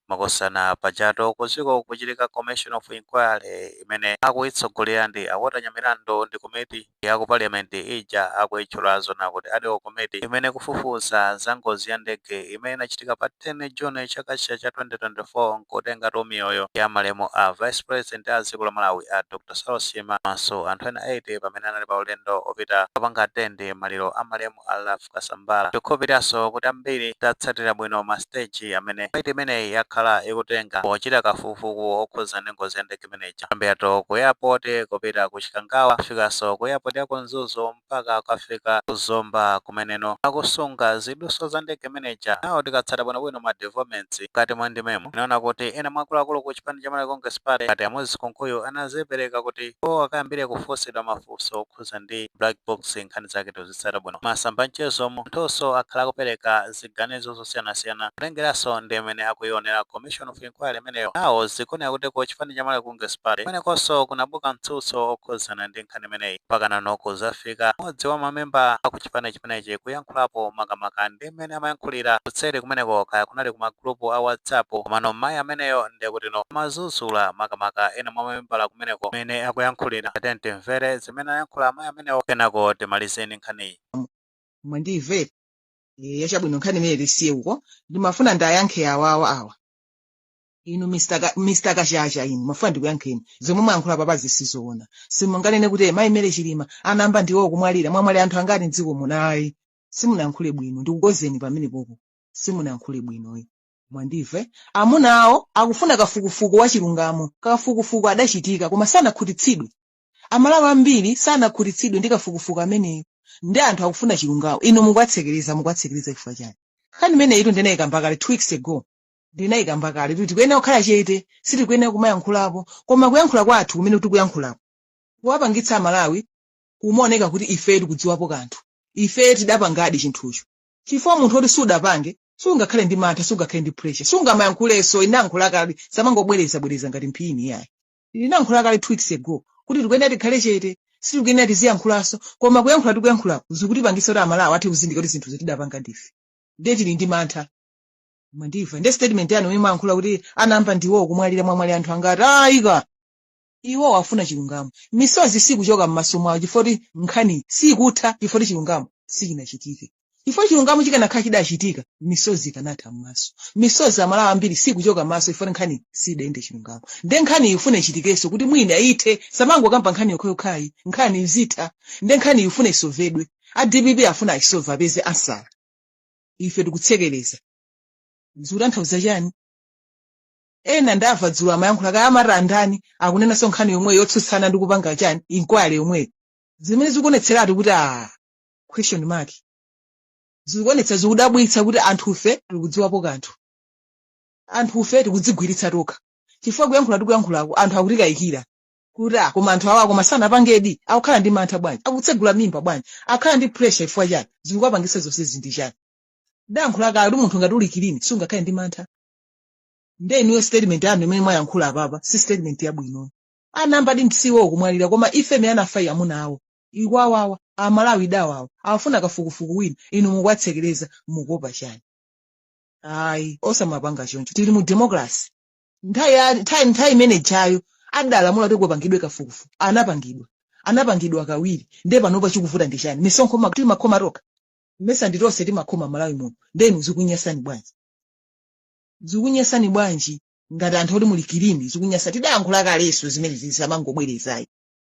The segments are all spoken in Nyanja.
Makosana pajatu kuziko kukuchitika commission of inquiry imene akuyitsogolera ndi a Walter Nyamilandu ndi komiti ya ku parliament ija akuyitchulazo nakuti Ad hoc Committee imene ikufufuza za ngozi ya ndege imene inachitika pa 10 June chaka chija cha 2024 nkutengatu miyoyo ya malemu a vice president a dziko la Malawi a Dr Saulos Chilima komanso anthu ena 8 pamene anali pa ulendo opita kukapanga attend maliro a malemu a Kasambara. Tikukhulupiriranso kuti ambiri tatsatira bwino masiteji amene komiti imeneyi yakhala ikutenga pochita kafukufuku wokhudza ndi ngozi ya ndege imene ija, kuyambiratu ku eyapoti kupita ku Chikangawa, kufikanso ku eyapoti ya ku Mzuzu mpaka kukafika ku Zomba kumeneko akusunga zidutswa za ndege imene ija. Now tikatsata bwinobwino ma developments mkati mwa ndimemu, tinaona kuti ena mwa akuluakulu ku chipani cha Malawi Congress Party ngati a Moses Kunkuyu anadzipereka kuti iwo akayambire kufunsidwa mafunso okhudza ndi black box nkhani zake. tikatsata bwino masamba a mchezomu, anthunso akhala akupereka ziganizo zosiyanasiyana kutengeranso ndi mmene akuyionera Commission of Inquiry imeneyo. Now zikuoneka kuti ku chipani cha Malawi Congress Party kumenekonso kunabuka mtsutso okhudzana ndi nkhani imeneyi mpakanano kudzafika mmodzi wa mamembala a ku chipani chimenechi kuyankhulapo makamaka ndi mmene amayankhulira kutseri kumeneko kaya kunali ku ma group a WhatsApp komano mmayi ameneyo ndiye kutino amadzudzula makamaka ena mwa mamembala kumeneko amene akuyankhulira. Tatiyeni timvere. zimene ayankhula amayi amenewo kenako timalize ndi nkhaniyi mwandimva e, yachabwino nkhani imene tisiye uko ndimafuna ndiwayankhe awawa awa inu Mr. Ka- Mr. kachacha inu ndimafuna ndikuyankheni zomwe mwayankhula apapa zija sizoona simunganene kuti mayi Mary Chilima anayamba ndiwo kumwalira mwamuna amwalira anthu angati mdziko muno ayi simunayankhule bwino ndikukonzeni pamenepopo simunayankhule bwino ayi mwandimva amuna awo, akufuna kafukufuku wa chilungamo kafukufuku adachitika koma sanakhutitsidwe amalawi ambiri sanakhutitsidwe ndi kafukufuku ameneyo ndiye anthu akufuna chilungamo inu mukuwatsekereza mukuwatsekereza chifukwa chani nkhani imeneyitu ndinayikamba kale two weeks ago ndinayikamba kale kuti tikuyenera kukhala chete sitikuyenera kumayankhulapo koma kuyankhula kwathu kumene tikuyankhulako kukuwapangitsa amalawi kumaoneka kuti ife tikudziwapo kanthu ife tidapangadi chinthucho chifukwa munthu woti sudapange sungakhale ndi mantha sungakhale ndi pressure sungamayankhulenso ndinayankhula kale sindimangobwerezabwereza ngati mphiri yayi ndinayankhula kale two weeks ago kuti tikuyenera tikhale chete sitikuyenera tiziyankhulanso koma kuyankhula tikuyankhulaku zikutipangitsa kuti amalawi athe kuzindikira kuti zinthuzi tidapanga ndife ndiye tili ndi mantha mwandimva ndiye statement yanu imene mwayankhula kuti anayamba ndiwo kumwalira mwamuna amwalira anthu angati ayi koma iwowo afuna chilungamo misozi sikuchoka m'maso mwawo chifukwa choti nkhani sikutha chifukwa choti chilungamo sichinachitike chifukwa chilungamo chikanakhala chidachitika misozi ikanatha m'maso misozi amalawi ambiri sikuchoka m'maso chifukwa nkhani sidayende chilungamo nde nkhani ifune ichitikenso kuti mwina ithe samangokamba nkhani yokhayokhayi nkhani izitha nde nkhani ifune isovedwe a dpp afuna ayisove apeze ansala ife tikutsekereza zikutanthauza chani ena ndamva dzulo amayankhula kaya amati andani akunenanso nkhani yomweyo yotsutsana ndi kupanga chani inkwale yomweyo zimene zikuonetseratu kuti aa question mark zikuonetsa zikudabwitsa kuti anthufe tikudziwapo kanthu anthufe tikudzigwiritsa tokha chifukwa kuyankhula tikuyankhulako anthu akutikayikira kuti ah koma anthu awa koma sanapangedi akukhala ndi mantha bwanji akutsegula mimba bwanji akukhala ndi pressure chifukwa chani zikuwapangitsa zonsezi ndi chani ndayankhula kale kuti munthu ngati uli kilini sungakhale ndi mantha nde inuyo statement yanu imene mwayankhula apapa si statement yabwino anambadi msiwo kumwalira koma ife mene anafayi amuna awo ikwawawa amalawi idawawa afuna kafukufuku wina inu mukwatsekereza mukuopa chani ayi osamapanga choncho tili mu democracy nthawi ya- nthawi nthawi imene jayo adalamula kuti kupangidwe kafukufuku anapangidwa anapangidwa kawiri nde panopa chikuvuta ndi chani misonkho ma- timakhoma tokha mesa ndi tonse timakhoma malawi muno nde inu zikunyasani bwanji zikunyasani bwanji ngati anthu oti muli kilini zikunyasa tidayankhula kalenso zimene zisamangobwerezayi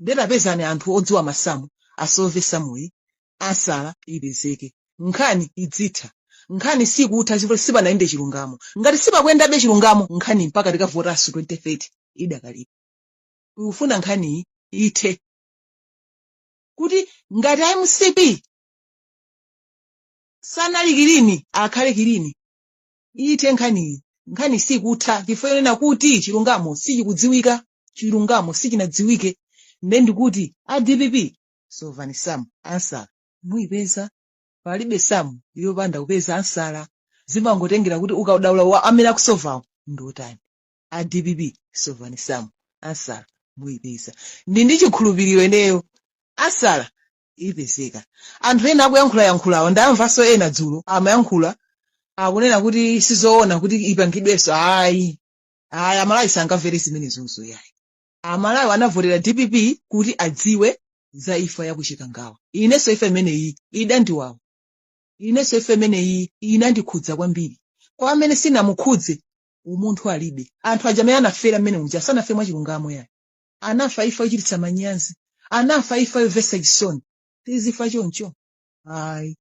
nde tapezani anthu odziwa masamu asove samuyi ansala ipezeke nkhani idzitha nkhani sikutha chifukwa sipanayende chilungamo ngati sipakuyendabe chilungamo nkhani mpaka tikavotanso 2030 idakalipo tikufuna nkhaniyi ithe kuti ngati a mcp sanali kilini akhale kilini ithe nkhaniyi nkhani sikutha chifukwa yonena kuti chilungamo sichikudziwika chilungamo sichinadziwike nde ndikuti a dpp sovani samu ansala muyipeza palibe samu yopanda kupeza ansala zimangotengera kuti ukadaulo wa amene akusovawo ndi otani a dpp sovani samu ansala muyipeza ndili ndi chikhulupiriro ineyo ansala ipezeka anthu ena akuyankhulayankhulawa ndamvanso ena dzulo amayankhula akunena kuti sizoona kuti ipangidwenso ayi aya amalawi sangamvere zimenezo yayi amalawi anavotera dpp kuti adziwe za imfa ya ku chikangawa inenso imfa imeneyi idandiwawa inenso imfa imeneyi inandikhudza kwambiri kwa amene sinamukhudze umunthu alibe anthu aja amene anafera mmenemuja sanafe mwachilungamo yayi anafa imfa yochititsa manyazi anafa imfa yomvetsa chisoni tizifa choncho ayi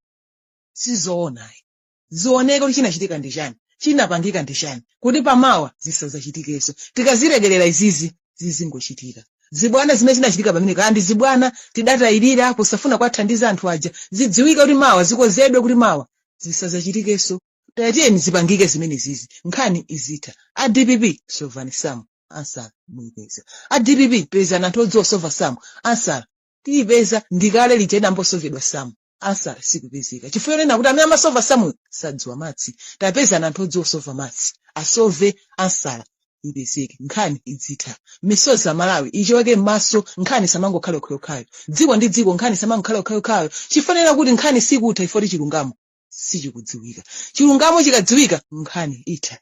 sizoona ayi zioneke kuti chinachitika ndi chani chinapangika ndi chani kuti pamawa zisazachitikenso tikazilekerera izizi zizingochitika zibwana zimene zinachitika pamene kaya ndi zibwana tidatayirira kusafuna kwathandiza anthu aja zidziwike kuti mawa zikozedwe kuti mawa zisazachitikenso tayatiyeni zipangike zimenezizi nkhani izitha a dpp sovani samu ansala muyipeza a dpp pezani anthu odziwa kusova samu ansala tiyipeza ndikale lija inambosovedwa samu ansala sikupezeka chifukwa chonena kuti amene amasova samuyo sadziwa matsi tapezani anthu odziwa kusova matsi asove ansala ipezeke nkhani idzitha misozi ya amalawi ichoke m'maso nkhani samangokhale okhaokhayo dziko ndi dziko nkhani samangokhale okhaokhayo chifukwa chonena kuti nkhani sikutha ifoti chilungamo sichikudziwika chilungamo chikadziwika nkhani itha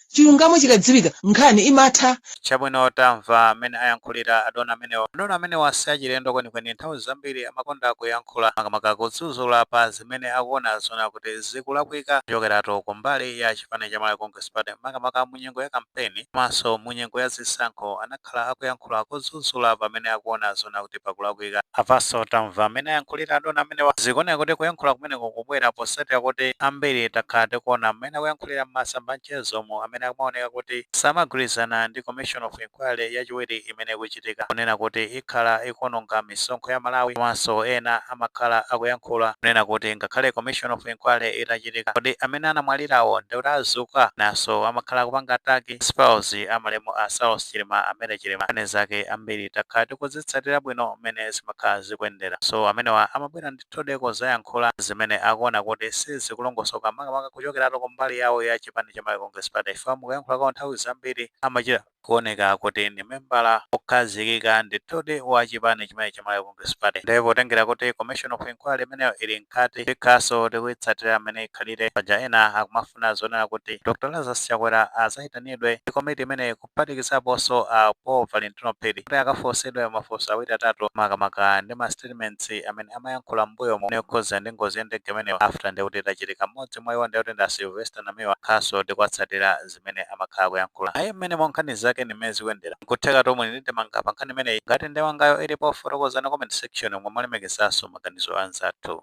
chilungamo chikadziwika nkhani imatha Chabwino tamva mmene ayankhulira adona amenewa. Adona amenewa si achilendo kwenikweni, nthawi zambiri amakonda kuyankhula makamaka kudzudzula pa zimene akuona zoona kuti zikulakwika kuchokeratu ku mbali ya chipani cha Malawi Congress Party makamaka mu nyengo ya kampeni komanso mu nyengo ya zisankho. Anakhala akhala akuyankhula kudzudzula pamene akuona zoona kuti pakulakwika. Apanso tamva mmene ayankhulira adona amenewa. Zikuoneka kuti kuyankhula kumeneku kukubwera potsatira kuti ambiri takhala tikuona mmene akuyankhulira m'masamba a mchezo mu amene akumaoneka kuti samagwirizana ndi Commission of Inquiry yachiwiri imene ikuchitika kunena kuti ikhala ikuononga misonkho ya Amalawi komanso ena amakhala akuyankhula kunena kuti ngakhale Commission of Inquiry itachitika kodi amene anamwalirawo ndiye kuti adzuka? Enanso amakhala akupanga attack ndi spouse a malemu a Saulos Chilima a Mary Chilima nkhani zake ambiri takhala tikuzitsatira bwino mmene zimakhala zikuyendera so amenewa amabwera ndithudi kuzayankhula zimene akuona kuti sizikulongosoka makamaka kuchokeratu ku mbali yawo ya chipani cha Malawi Congress Party chifukwa mukuyankhula kwawo nthawi zambiri amachita kuoneka kuti ndi membala okhazikika ndithudi wa chipani chimene cha Malawi Congress Party. Ndiye potengera kuti Commission of Inquiry imeneyo ili mkati, tikhaso tikuyitsatira mmene ikhalire. Paja ena akumafuna zonena kuti Dr. Lazarus Chakwera azayitanidwe ndi komiti imeneyi kuphatikizaponso a Paul Valentino Phiri kuti akafunsidwe mafunso awiri atatu makamaka ndi ma statements amene amayankhula m'mbuyomo yokhudzana ndi ngozi ya ndege imeneyo. After ndiye kuti itachitika mmodzi mwa iwo ndiye kuti ndi a Sylvester Namiwa. Tikhaso tikuwatsatira. ndimene amakhala akuyankhula ayi mmenemo nkhani zake ndimene zikuyendera. Nkuthekatu muli ndi ndemanga pa nkhani imeneyi? Ngati ndemangayo ilipo fotokozani comment section mo molemekezanso maganizo a anzathu.